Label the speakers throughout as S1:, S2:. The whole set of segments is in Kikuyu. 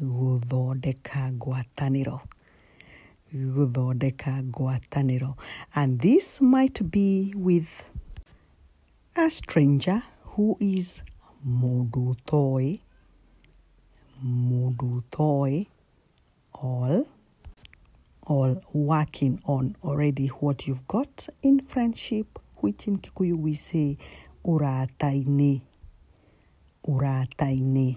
S1: gũthondeka ngwatanĩro gũthondeka ngwatanĩro and this might be with a stranger who is mũndũ ũtoĩ mũndũ ũtoĩ all all working on already what you've got in friendship which in Kikuyu we say urata-inĩ urata-inĩ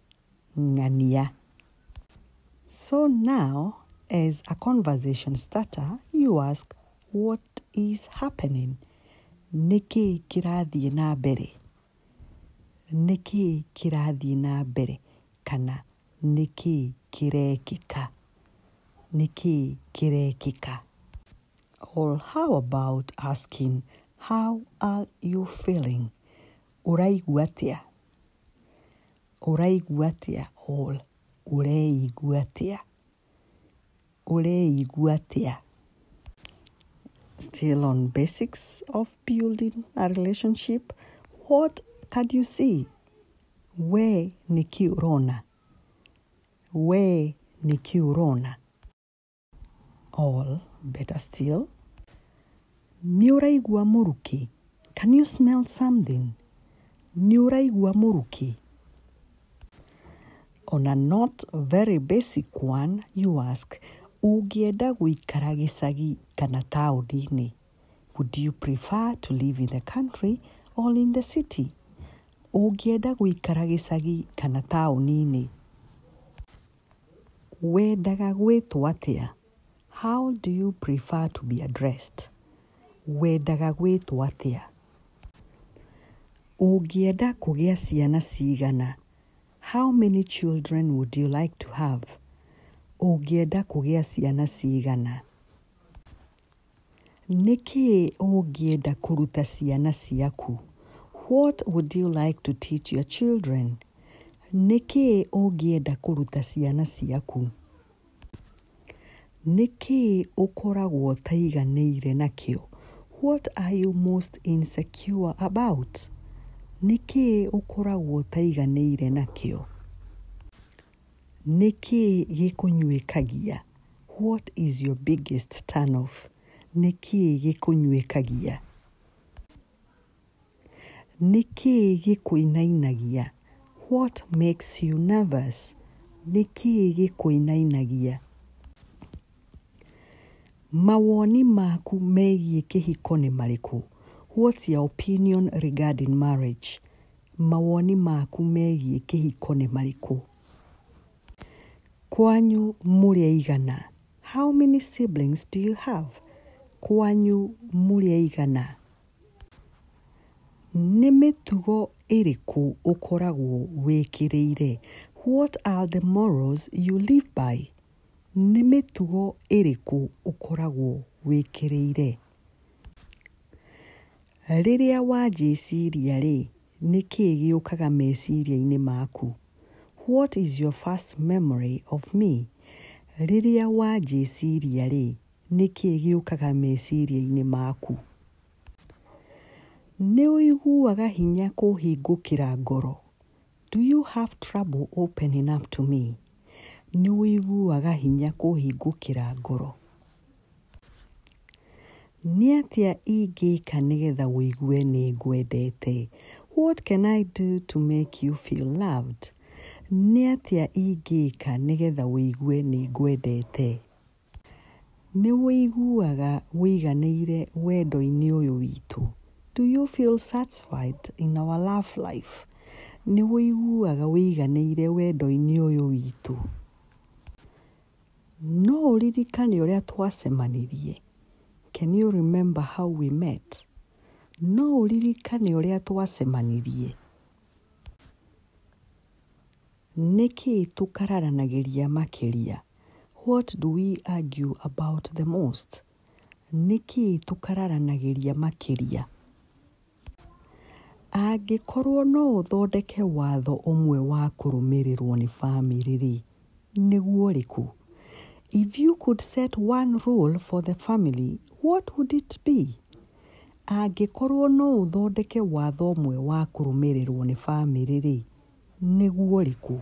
S1: ng'ania. So now as a conversation starter you ask what is happening? Nĩkĩ kĩrathiĩ na mbere? Nĩkĩ kĩrathiĩ na mbere? Kana nĩkĩ kĩrekĩka? Nĩkĩ kĩrekĩka? Or how about asking how are you feeling? Ũraigua atĩa? Ũraigua atĩa? or Ũreigua atĩa? Ũreigua atĩa? Still on basics of building a relationship, what can you see? We nĩkĩ ũrona? We nĩkĩ ũrona? All better still. Nĩ ũraigua mũrukĩ? Can you smell something? Nĩ ũraigua mũrukĩ? On a not very basic one, you ask, ũngĩenda gũikara gĩcagi kana taũni-inĩ? Would you prefer to live in the country or in the city? Ũngĩenda gũikara gĩcagi kana taũni-inĩ? Wendaga gwĩtwo atĩa? How do you prefer to be addressed? Wendaga gwĩtwo atĩa? Ũngĩenda kũgĩa ciana cigana? How many children would you like to have? Ũngĩenda kũgĩa ciana cigana? Nĩ kĩĩ ũngĩenda kũruta ciana ciaku? What would you like to teach your children? Nĩ kĩĩ ũngĩenda kũruta ciana ciaku? Nĩ kĩĩ ũkoragwo ũtaiganĩire nakĩo? What are you most insecure about? Nĩ kĩĩ ũkoragwo ũtaiganĩire nakĩo? Nĩ kĩĩ gĩkũnyuĩkagia? What is your biggest turn off? Nĩ kĩĩ gĩkũnyuĩkagia? Nĩ kĩĩ gĩkũinainagia? What makes you nervous? Nĩ kĩĩ gĩkũinainagia? Mawoni maku megiĩ kĩhiko nĩ marĩkũ? What's your opinion regarding marriage? Mawoni maku megiĩ kĩhiko nĩ marĩkũ? Kwanyu mũrĩ aigana? How many siblings do you have? Kwanyu mũrĩ aigana? Nĩ mĩtugo ĩrĩkũ ũkoragwo wĩkĩrĩire? What are the morals you live by? Nĩ mĩtugo ĩrĩkũ ũkoragwo wĩkĩrĩire? Rĩrĩa wanjĩciria-rĩ, nĩ kĩĩ gĩũkaga meciria-inĩ maku? What is your first memory of me? Rĩrĩa wanjĩciria-rĩ, nĩ kĩĩ gĩũkaga meciria-inĩ maku? Nĩ ũiguaga hinya kũhingũkĩra ngoro? Do you have trouble opening up to me? Nĩ ũiguaga hinya kũhingũkĩra ngoro? Nĩ atĩa ingĩka nĩgetha ũigue nĩ ngwendete? What can I do to make you feel loved? Nĩ atĩa ingĩka nĩgetha ũigue nĩ ngwendete? Nĩ ũiguaga ũiganĩire wendo-inĩ ũyũ witũ? Do you feel satisfied in our love life? Nĩ ũiguaga ũiganĩire wendo-inĩ ũyũ witũ? No ũririkane ũrĩa twacemanirie? Can you remember how we met? No ũririkane ũrĩa twacemanirie? Nĩ kĩĩ tũkararanagĩria makĩria? What do we argue about the most? Nĩ kĩĩ tũkararanagĩria makĩria? Angĩkorũo no ũthondeke watho ũmwe wa kũrũmĩrĩrũo nĩ famĩlĩ-rĩ, nĩguo ũrĩkũ? If you could set one rule for the family, what would it be? Angĩkorũo no ũthondeke watho ũmwe wa kũrũmĩrĩrũo nĩ famĩlĩ-rĩ, nĩguo ũrĩkũ?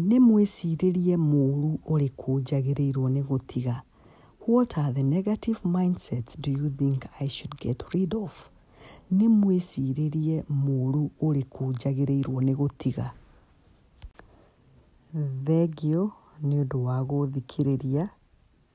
S1: Nĩ mwĩcirĩrie mũũru ũrĩkũ njagĩrĩirũo nĩ gũtiga? What are the negative mindsets do you think I should get rid of? Nĩ mwĩcirĩrie mũũru ũrĩkũ njagĩrĩirũo nĩ gũtiga? Thengio nĩ ũndũ wa gũthikĩrĩria.